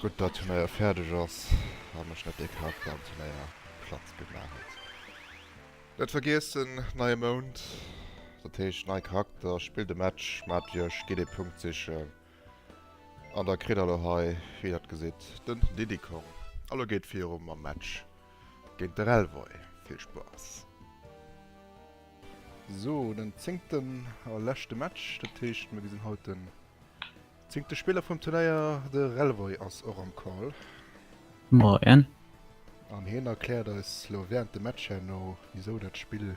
Gutt dat Turnéier fäerdeg ass a mech net dee Kater am Turnéier platt gemaach huet. Net vergiessen, neie Mount, dat heescht nei Charakter, spillt e Match mat iech, gitt ee Punkt sichen. An da kritt der lo hei, wéi der et gesitt, den Diddy Kong. A lo geet et viru mam Match géint de Relvoy. Vill Spaass! Sou, den zéngten a leschte Match. Dat heescht, mir gesinn haut den zéngte Spiller vum Turnéier. De Relvoy ass och am Call. Moien. An hien erkläert eis lo wärend dem Match herno, wisou dat Spill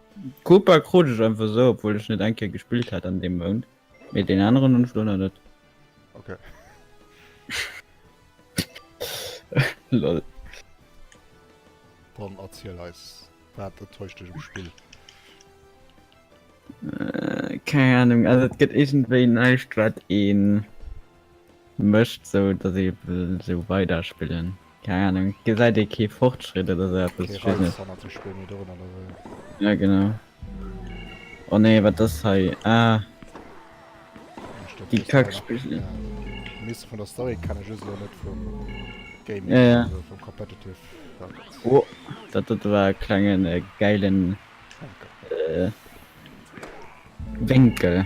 D'Koopa krut ech einfach esou, obwuel ech net eng Kéier gespillt hat an deem Mount, mee deen aneren hunn ech elo nach net. Ok. Lol. Dann erziel eis, wat enttäuscht dech um Spill? Keng Ahnung, also et gëtt iergendwéi näischt wat een. Mécht sou dass ee wëll sou weider spillen, keng Ahnung, gesäit ee kee Fortschritt oder sou eppes, ech weess net. Jo genau, oh nee wat ass hei, ah déi kack Spigeln. Ja ja, oh dat dote war e klengen gäilen Wénkel.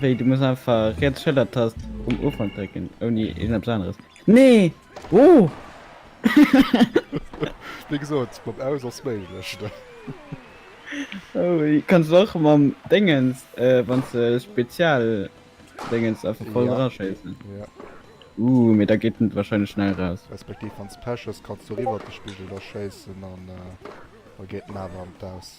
Wéi, du muss einfach riets Schëllertast um Ufank drécken, ouni iergendepps aneres. Nee! Oh! Wéi gesot, mam Aus ass méiglech, ne? Oh, kanns de och mam Déngens, wann s de Spezialdéngens einfach voll draschéissen. Ja. Ooh, mee da geet en warscheinlech schnell eraus. Respektiv wann s Pech hues, kanns de och iwwert de Spigel da schéissen an da geet en awer an d'Aus.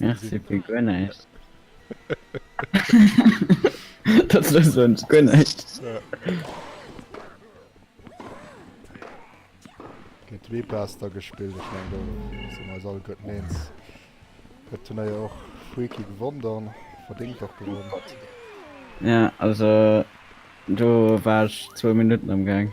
Merci fir guer näischt. Dat ass sonst guer näischt. Ginn zwee Plaster gespillt, ech mengen do sinn mer eis alleguerten eens. Dat Turnéier ass och freaky gewonn dann, verdéngt och gewonn. Ja, also do war ech zwou Minutten am Gaang.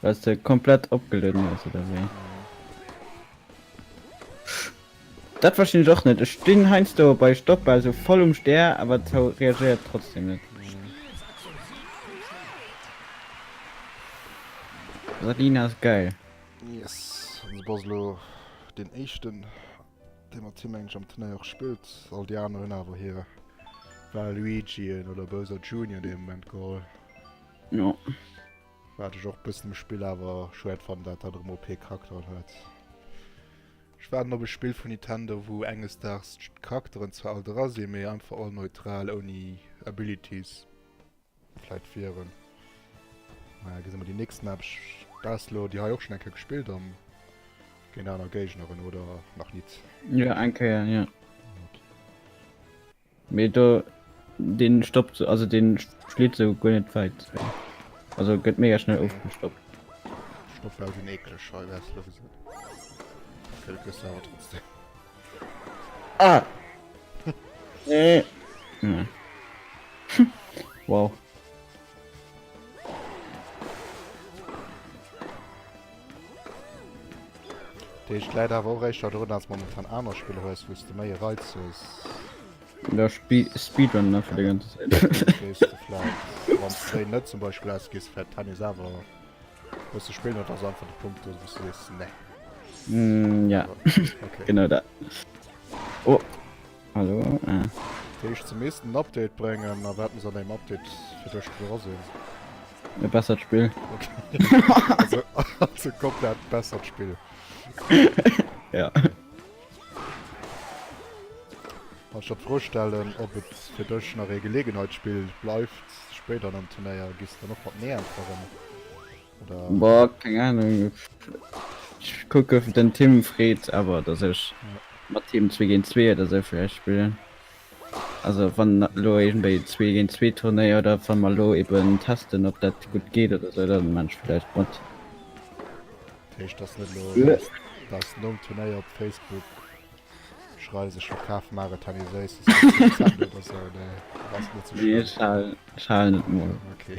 Well se komplett opgelueden ass oder wéi? Dat verstinn ech och net. Ech stinn heiansdo bei Stoppbal sou voll um Stär, awer d'Sou reagéiert trotzdem net. Radina ass geil. Yes, an du bass elo deen éischten, dee mat him engdeg am Turnéier och spillt. All déi aner hunn awer hir Waluigien oder Bowser Junior dee Moment geholl. Jo. Waat ech och bessen um Spill awer schwäert fannen daat daat erem OP Charakteren huet. Ech waarden op e Spill vun Nintendo wou enges Daags d'Charakteren zwar all dra sin mee einfach all neutral ouni Abilities vläit wieren. Naja gesi mer déi nächsten Map. Ech bass lo déi hei och schon eng Kéier gespillt an géint aaner Géigneren oder nach nit? Jo eng Kéier jo. Mee do deen stoppt also deen schlitt sou guer net weit wei also get mega schnell ofgestoppt. Stoff war schon ekleg schei wars lo gesoot. Okay du kriss se awer trotzdem. Ah! Nee. Hm. Wow. Deeg läit awer och éischter drun als momentan aner Spiller hues wous de méi e Reiz hues. Da speedrunnen einfach déi ganze Zäit. Gees de vläit wanns de déi net zum Beispill hues gees de vläit Tennis awer bësse spillen oder ass einfach de Punkt do wous de sees nee. Mm, ja, Okay. genau dat. Oh, Hallo, ah. Dat heescht, se missten en Update bréngen, a wat muss an engem Update fir dech dra sinn? E bessert Spill. Also, also komplett bessert Spill. Ja. Kann ech der d'Fro stellen, ob et fir dech nach ee Gelegenheitsspill bleift spéider an engem Turnéier? Gees de dann och mat Nee äntweren? Boah, keng Ahnung. Ech kucke den Tim freet awer, datt ech mat him zwee géint zwee oder sou vläicht spillen. Also wann elo iergendwéi e zwee géint zwee Turnéier oder wa mer elo eben testen ob dat gutt geet oder sou, da man ech vläicht mat. Dat heescht datt net elo datt datt nom Turnéier op Facebook schreiws ech verkaf mar et Henny Seuss ech halen ech halen et mol. Okay.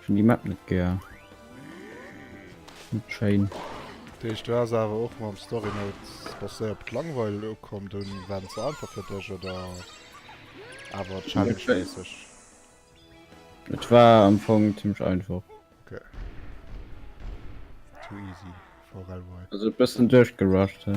Ech hun déi Map net gär. Net schéin. Dat heescht du ass awer och mam Story Mode basséiert op d'Langweil ukomm, dunn war en ze einfach fir dech oder awer Challenge méisseg? Et war am Fong zimmlech einfach. Ok. Too easy for Railway. Also e bëssen duerchgerusht, he.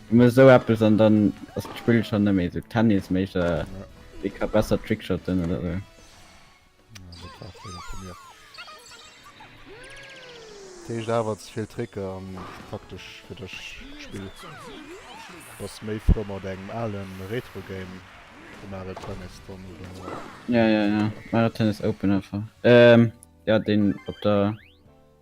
Ëmmer esou eppes an dann ass d'Spill schonn net méi esou Tennis-méisseg, ee ka besser trickshotten oder esou. D'Héicht awer ze vill Tricker an praktesch fir dech d'Spill. Bass méi frou mat engem alen Retro-Game wéi Mario Tennis dann oder? Ja, ja, ja, Mario Tennis Open einfach. Ehm, jo, deen op der.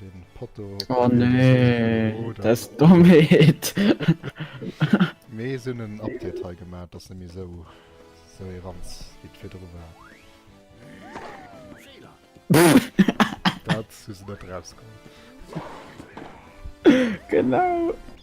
Den Potto. Oh nee, das Dommheet. Mee se hunn en Update hei gemat, dass net méi esou esou ee Ranz wéi virdru war. Dat hu se net erausgeholl. Genau.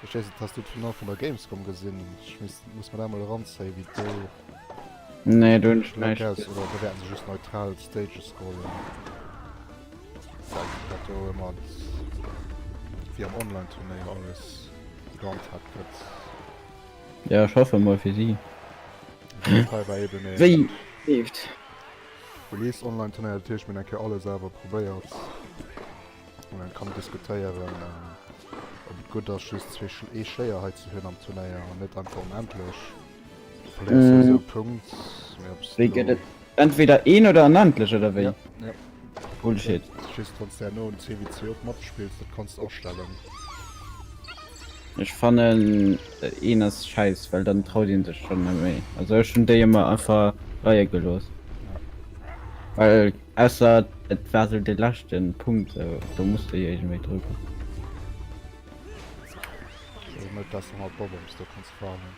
Verstees et, has du d'Final vun der Gamescom gesin? Ech muss mer dat mol eranzéien wéi do. Nee do hun ech näischt gesin. Oder do wäerten se just neutral Stages scrollen. Zeigt dat do ëmmer wéi am Online Turnéier alles gehandhabt gëtt. Ja ech hoffe mol fir si. Hei war eben ee. Wéi leeft. Release Online Turnéier, dat heescht mir hunn eng Kéier alles awer probéiert. wou een kann diskutéieren ob et gutt ass just zwee Sch ee Schléier hei ze hunn am Turnéier an net einfach onendlech. Volley ass souwisou e Punkt, mee ob s Wéi gëtt et? Entweder een oder onendlech oder wéi? Ja, ja. Bullshit. Just wann s de herno um CWC op Matt spills, dat kanns de astellen. Ech fannen een ass scheiss, well dann traut een sech schonn net méi. Also ech hunn déi ëmmer einfach leie gelooss. Well Ausser et war sou de leschte Punkt sou, do muss de jo iergendwéi drucken. Ass net besser mat Bob-oms, do kanns de warnen.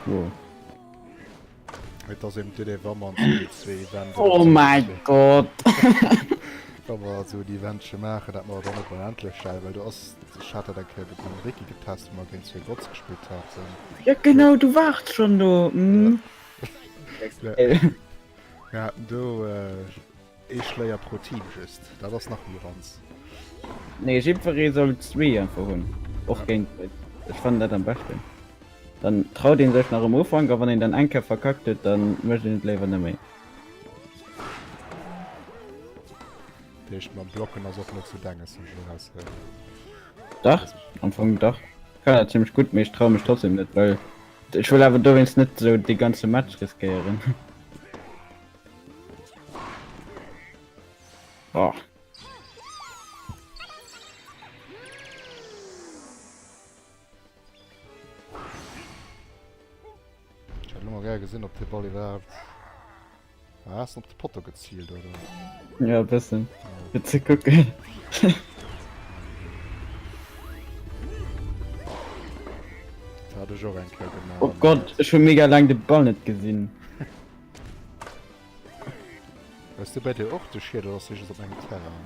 Wow. Et ass eben d'Idee, wa mer an Serie 2 Eventer. Oh mäi Gott! Wa mer esou en Eventche maachen, dat mer et dann och endlech stellen, well do ass Ech hat dat eng Kéier gedoen a Wiki getest wou mer géint zwee Bots gespillt haten. Jo genau, du waart schonn do, hm. Mir haten do ee Schléier pro Team just, dat ass nach méi ranz. Nee, jiddweree soll zwee einfach hunn, och géint Bot. Ech fannen dat am beschten. Dann traut ee sech nach um Ufank a wann een dann eng Kéier verkackt huet, dann mécht een et léiwer net méi. Deecht mam blocken ass och net sou denges wéi ech lo raus héieren. Dach, am Fong dach. Kann dat zimmlech gutt, mee ech traue mech trotzdem net, well ech wëll awer dowéinst net sou dee ganze Match riskéieren. Oh. Ech hätt lo mol gär gesinn, ob dee Ball iwwerhaapt. Ah, hast op de Potto gezielt oder? Ja bessen fir ze kucken. Dat hat ech och eng Kéier gemaach. Oh Gott, ech hun mega lang de Ball net gesinn. Ass de bei dir och de Schiet oder ass dee just op engem Terrain?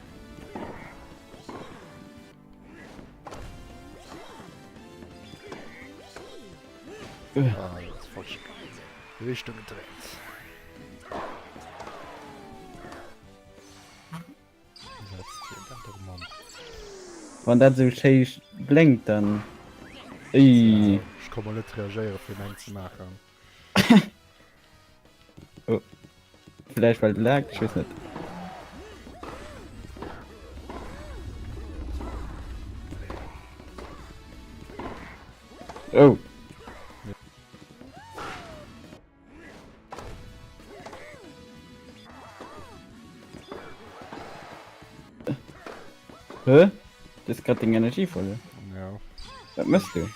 Ah, jetzt falsch. Richtung gedreht. Wann dat so schön blinkt, dann... Ey. Ja, ich kann mal nicht reagieren, für einen zu machen. oh. Vielleicht weil lag, ich weiß nicht. Oh. Hä? Das ist gerade den Energie voll. Ja. Was machst du?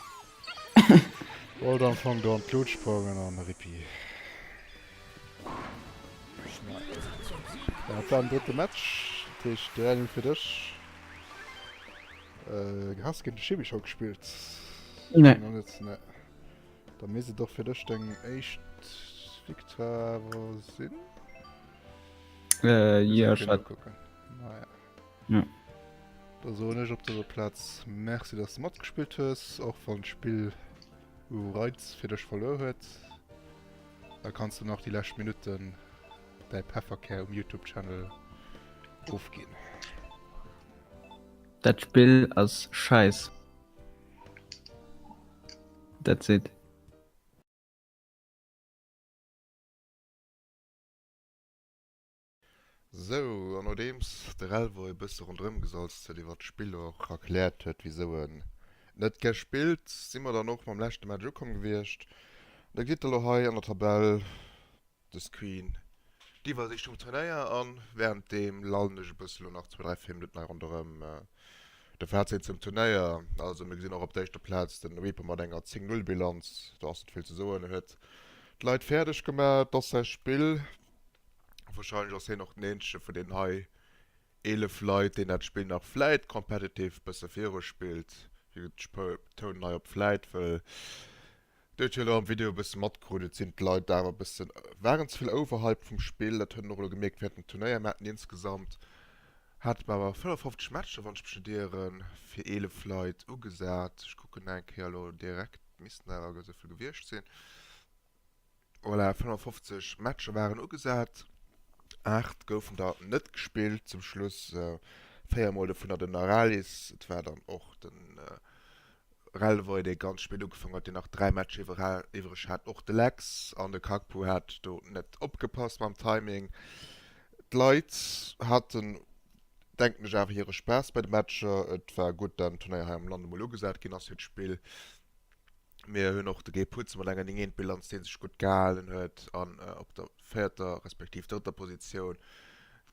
Wollt am Fong do an d'Lut sprongen an Rippi. Dat war den drëtte Match, dat heescht 3-0 fir dech. Äh, has géint de Schimmi scho gespillt? Nee. Nach net, ne. Da misst et och fir dech deng éischt Victoire sinn. Äh, jo, ech hat. Kucken. Naja. Ja. Da soen ech op der Platz Merci, dass du matgespielt hues, och wann d'Spill u Reiz fir dech verluer huet. Da kannst du nach die lescht Minuten däi Pefferkär um YouTube-Channel ofginn. Dat Spill ass scheiss. That's it. Sou, an nodeems de Relvor ee bësse ronderëm gesalzt huet, iwwert d'Spill och erkläert huet, wisou en net gär spillt, si mer dann och mam leschte Match ukomm gewiescht. An da kritt Der elo hei an der Tabell de Screen, d'Iwwersiicht vum Turnéier, a wärenddeem lallen ech e bësse elo nach zwou, dräi, véier Minutten hei ronderëm. De Fazit zum Turnéier, also mir gesinn och op der éischter Plaz de Reaper mat enger 10, 0 Bilanz, do ass net vill ze soen, en huet d'Leit fäerdeg gemaach, et ass säi Spill. Wahrscheinlech ass hien och den eenzege vun den hei 11 Leit, deen dat Spill nach vläit competitive bësse viru spillt. Hie gëtt d'Toun hei op vläit, wëll Dir huet jo elo am Video e bësse matkrut, et sinn d'Leit awer e bëssen, waren ze vill overhyped vum Spill. Dat huet een och elo gemierkt während dem Turnéier. Mir haten insgesamt, hate mer awer 55 Matcher, wann ech mech net ieren, fir 11 Leit ugesat. Ech kucken nach eng Kéier elo direkt, missten awer esou vill gewiescht sinn. Voilà, 55 Matcher waren ugesat, 8 goufen der net gespillt zum Schluss, 4 mol dovunner den Aralis. Et war dann och de Relvoy, dee ganz spéit ugefaangen huet, deen nach 3 Matcher iwwereg hat. Och de Lex an de Kakpo hat do net opgepasst mam Timing. D'Leit haten, denken ech, awer hire Spaass bei de Matcher. Et war gutt, datt den Turnéier hei am Land emol ugesat ginn ass fir d'Spill. Mir hunn och de Guy Putz mat enger 9, 1 Bilanz, dee sech gutt gehalen huet an op der véierter respektiv drëtter Positioun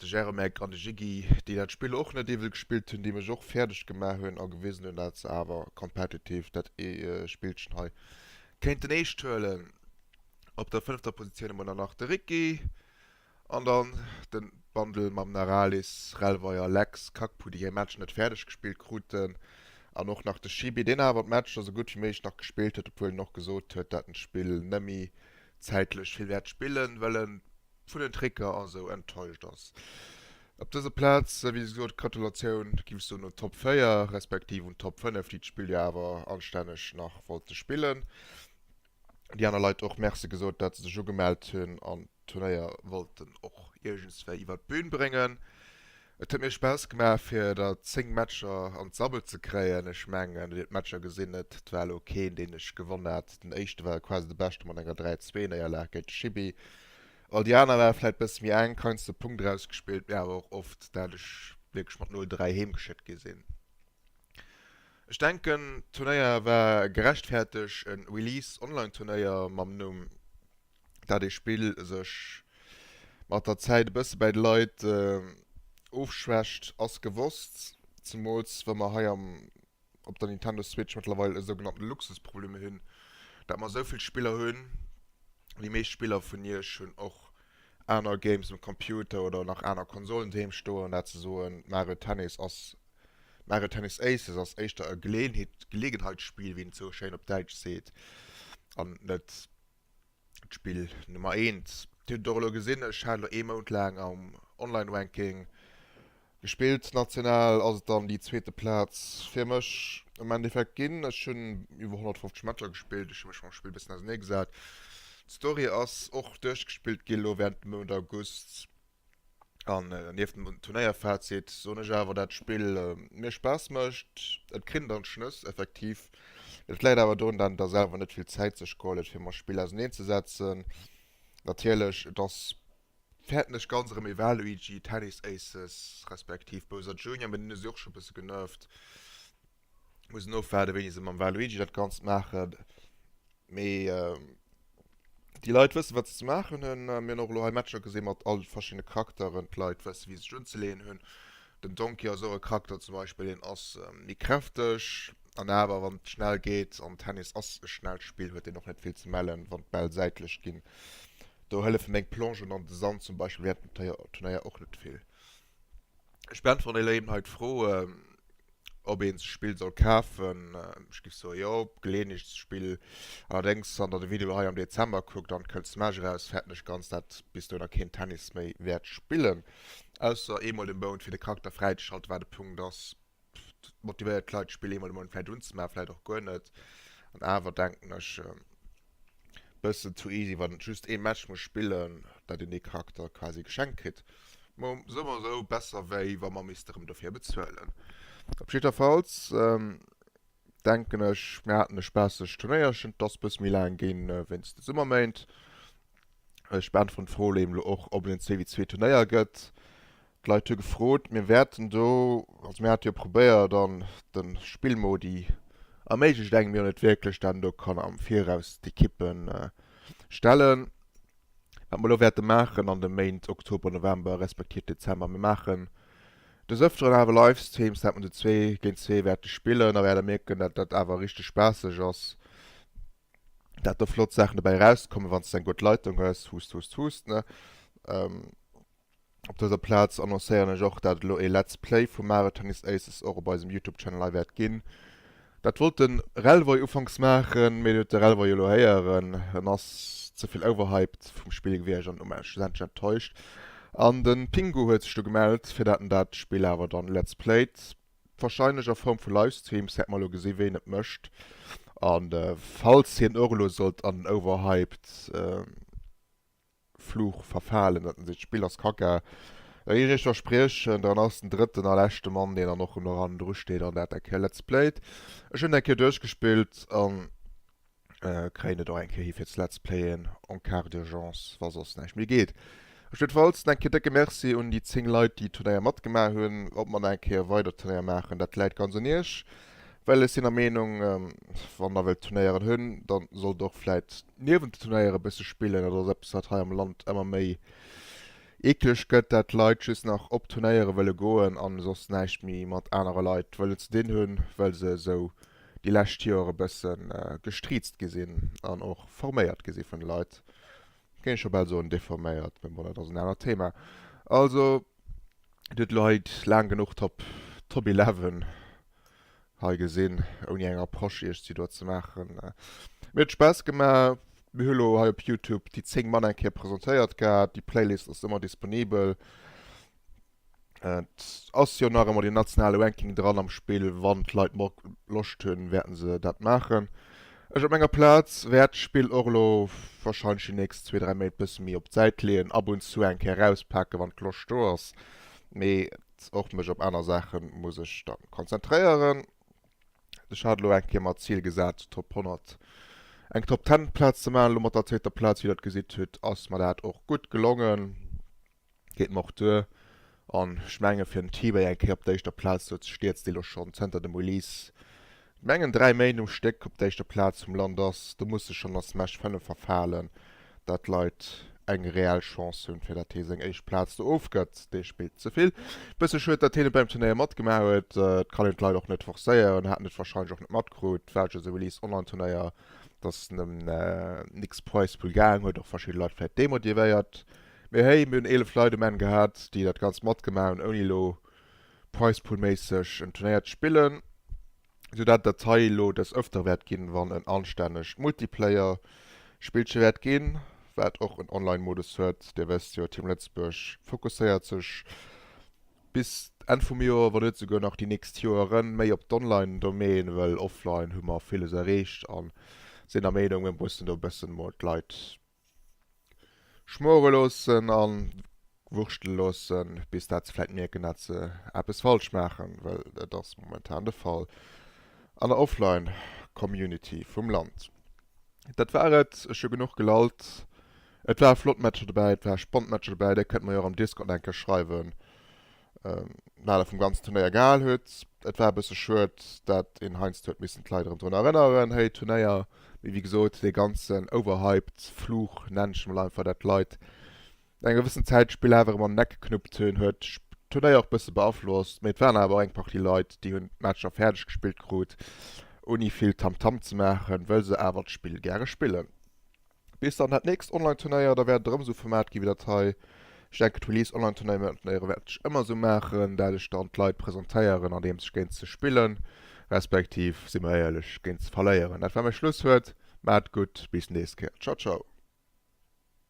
de Jeremek an de Jiggy, déi dat Spill och net iwwel gespillt hunn, déi mech och fäerdeg gemaach hunn a gewisen hunn, datt se awer competitive dat Spillchen hei kéinten eescht huelen. Op der fënnefter Positioun hu mer dann nach de Ricky, An dann den Bundle mam Naralis, Relvai a Lex, Kack Pudi hir Match net fäerdeg gespillt kruten an och nach de Shibi deen awer d'Matcher sou gutt wéi méiglech nach gespillt huet, obwuel en och gesot huet dat en d'Spill nemmi zäitlech vill wäert spillen well en vun den Tricker a sou enttäuscht ass. Op dëser Platz wéi gesot Gratulatioun giff ech soen un Top 4 respektiv un Top 5 déi d'Spill jo awer anstänneg nach wollte spillen. déi aner Leit och Merci gesot, dat se sech ugemellt hunn an d'Turnéier wollten och iergendswéi iwwer d'Bühn bréngen. Et huet mir Spaass gemaach fir der 10 Matcher an d'Sabbel ze kréien. Ech mengen et huet d'Matcher gesinn, et war elo keen deen ech gewonn hat. Den éischte war quasi de beschte mat enger 3, 2 Néierlag géint de Chibi. All déi aner ware vläit bësse méi enk, heiansdo Punkt erausgespillt, mee awer och oft dat ech wierklech mat 0, 3 heemgeschéckt gi sinn. Ech denken d'Turnéier war gerechtfäerteg, en Release Online Turnéier mam Numm dat ee Spill sech mat der Zäit e bësse bäi de Leit ofschwächt ass gewosst, zemools wa mer hei am op der Nintendo Switch mëttlerweil e sougenannten Luxusproblem hunn dat mer esou vill Spiller hunn. Déi meescht Spiller vun iech hunn och aner Games um Computer oder nach aner Konsolen doheem stoen, dat ze soen. Mario Tennis ass, Mario Tennis Aces ass éischter e Geleeënheet, Geleegenheitsspiel, wéi een et sou schéin op Däitsch seet, an net d'Spill Nummer eent. Dir hutt et och elo gesinn, ech hat elo ee Mount laang am Online-Ranking Gespillt national ass et dann déi zweete Plaz fir mech am Endeffekt ginn. Ech hunn iwwer 150 Matcher gespillt, ech hu mech mam Spill e bëssen ausernee gesat. D'Story ass och duerchgespillt gi lo wärend dem Mount August. An nieft dem Turnéierfazit soen ech awer, dat d'Spill mir Spaass mécht. Et krinnt an d'Schnëss, effektiv. Et läit awer dorun, dat et der selwer net vill Zäit sech geholl huet fir mam Spill auserneen ze setzen. Natierlech, et ass Fäerten ech ganz erëm ee Waluigi, Tennis Aces, respektiv Bowser Junior, mee deen hu si och scho e bësse genervt. Mussen ofwaarden, wéini se mam Waluigi dat Ganzt maachen. Mee déi Leit wëssen, wat se ze maachen hunn. Mir hunn och elo hei Matcher gesinn mat all de verschiddene Charakteren. D'Leit wëssen, wéi se sech unzeleeën hunn. Den Donkey ass och e Charakter zum Beispill, deen ass méi kräfteg an awer, wann et schnell geet, an Tennis ass e schnellt Spill, huet deen och net vill ze mellen, wann d'Bäll säitlech ginn. Do hëllefe meng Plongen an de Sand zum Beispill während dem Turneier och net vill. Ech beäntweren elo eben hei d'Fro, ob een sech Spill soll kafen. Ech géif soe jo, Geleeënheetsspill. Allerdéngs, wann der de Video hei am Dezember kuckt an d'kënnt Smash eraus, fäerten ech ganz, dat bis dohinner keen Tennis méi wäert spillen, ausser eemol de Mount fir de Charakter fräizeschalten, wat e Punkt ass, dat motivéiert d'Leit d'Spill eemol de Mount vläicht unzemaachen, vläicht och guer net. An awer denken ech e bëssen zu easy, wann et just ee Match muss spillen, dat een dee Charakter quasi geschenkt kritt. Bon, sou oder sou besser wéi wa mer misste rëm dofir bezuelen. Op jiddwerfalls denken ech mir haten e spaassegt Turnéierchen, et ass e bësse méi laang ginn wéinst de Summerméint. Ech beäntweren d'Fro, Leem, elo och ob et en zwee wéi zwee Turnéier gëtt. D'Leit hu gefrot, mir wäerten do, also mir hate jo probéiert an de Spillmodi erméiglecht engem jo net wierklech, dat en do kann am Viraus d'Ekippe stellen, wat mer elo wäerte maachen an de Méint Oktober, November respektiv Dezember. Mir maachen des Öfteren awer Livestreams, dat mer du zwee géint zwee wäerte spillen, da wäert der mierken, dat dat awer richteg spaasseg ass, dat do flott Saachen dobäi erauskommen, wann s de eng gutt Leitung hues, huuss, huuss, huuss, ne. Op dëser Plaz annoncéieren ech och dat et elo ee Let's Play vu Mario Tennis Aces och op eisem Youtube Channel hei wäert ginn. Dat wollt de Relvoy ufanks maachen, mee deen huet de Relvoy jo elo héieren, en ass ze vill overhyped vum Spill gewiescht an um Enn schlussendlech enttäuscht. An de Pingu huet sech du gemellt fir dat en dat Spill awer dann Let's Playt, wahrscheinlech a Form vu Livestreams, hätt mer elo gesi ween et mécht. A falls hien och elo sollt an den overhyped. Fluch verfalen, datt en seet, d'Spill ass Kacka, da géif ech iech verspriechen, dann ass den drëtten a leschte Mann, deen dann och ëm eran dru steet an dat dat Kéier Let's Playt. Ech hunn et eng Kéier duerchgespillt a kréien et och eng Kéier hi fir ze Let's Playen en Cas d'urgence, wa soss näischt méi geet. Op jiddwer Fall en Kéier décke Merci un déi 10 Leit, déi Turnéier matgemaach hunn. Ob mer nach eng Kéier weider Turnéier maachen, dat läit ganz un iech. Well ech sinn der Meenung, wann der wëllt Turnéieren hunn, da sollt der och vläit niewent de Turnéieren e bësse spillen. Dat ass eppes, wat hei am Land ëmmer méi eekleg gëtt, dat d'Leit just nach op Turnéiere wëlle goen a soss näischt méi mat anere Leit wëllen ze dinn hunn, well se esou déi lescht Joer e bësse gestriezt gi sinn an och forméiert gi si vun de Leit, géing ech scho bal soen, deforméiert, mee bon, dat ass en anert Thema. Also. Dir hutt elo hei laang genuch d'Top Top Eleven hei gesinn, ouni eng Approche Iech si do ze maachen. Mir huet Spaass gemaach. Mir hu elo hei op Youtube déi 10 Mann eng Kéier presentéiert gehat. Déi Playlist ass ëmmer disponibel. Et ass jo nach ëmmer deen nationale Ranking dran am Spill. Wann d'Leit Loscht hunn, wäerten se dat maachen. Ech op menger Platz wärt d'Spill och elo wahrscheinlech déi nächst zwee, dräi Méint bëssen méi op d'Säit leeën, ab und zu eng Kéier erauspaken wann d'Loscht do ass, mee och mech op aner Saachen muss ech dann konzentréieren. Ech hat elo eng Kéier mer d'Zil gesat Top 100, eng Top 10 Platz ze maachen, elo mat der zweeter Platz wéi der et gesitt hutt ass mer dat och gutt gelongen. geet mer och duer. An ech menge fir den T-Bay eng Kéier op der éischter Plaz do ze stiets, dee lo schonn zënter dem Release mengen 3 Méint um Stéck op der éischter Plaz vum Land ass, do muss e schonn a Smash 5 verfalen, dat d'Leit eng reell Chance hunn, fir datt hee seng éischt Plaz do ofgëtt. Dee spillt ze vill. Bësse schued, datt hien net beim Turnéier matgemaach huet. Et kann een d'Leit och net forcéieren. Haten et warscheinlech och net matkrut. War just e Release online Turnéier, datt en ëm nix Präispull gaang huet och verschidde Leit vläicht demotivéiert. Mee hey, mir hunn 11 Leit um Enn gehat, déi dat Ganzt matgemaach hunn, ouni elo Prize-Pool-méisseg en Turnéier ze spillen, sou dat et dat hei elo des öfter wäert ginn, wann en anstännegt Multiplayer-Spillche wäert ginn, wat och en Online-Modus huet. Dir wësst jo, Team Lëtzebuerg fokusséiert sech bis Enn vum Joer, wann net souguer nach déi nächst Joeren, méi op d'Online-Domäne, wëll offline hu mer villes erreecht a sinn der Meenung, mir mussen do e bëssen emol d'Leit Schmore loossen a wurschtele loossen, bis dat se vläit mierken, dat se eppes falsch maachen, well et ass momentan de Fall an der Offline-Community vum Land. Dat war et, ech hu genuch gelallt. Et ware flott Matcher dobäi, et ware spannend Matcher dobäi, Dir kënnt mer jo och am Discord eng Kéier schreiwen, Nale vum ganzen Turnéier gehal huet. Et war e bësse schued, dat een heiansdo huet missen d'Leit erëm drun erënneren, hey, Turnéier. Mee wéi gesot, dee ganzen overhyped Fluch, nenn ech emol einfach, dat d'Leit no enger gewëssen Zäit d'Spill awer erëm an den Eck geknuppt hunn, huet d'Turnéier och e bësse beaflosst. Mee et waren awer och eng Partie Leit, déi hunn d'Matcher fäerdeg gespillt krut, ouni vill Tamtam ze maachen, wëll se awer d'Spill gäre spillen. Bis dann dat nächst Online Turnéier, da wäert et erëm esou Format gi wéi dat hei. Ech denken d'Release Online Turnéieren wäert ech ëmmer esou maachen, dat ech dann d'Leit presentéieren andeems ech géint se spillen, respektiv, si mer éierlech, géint se verléieren. Dat war mäi Schlusswuert, maat gutt, bis nächst Kéier, ciao ciao.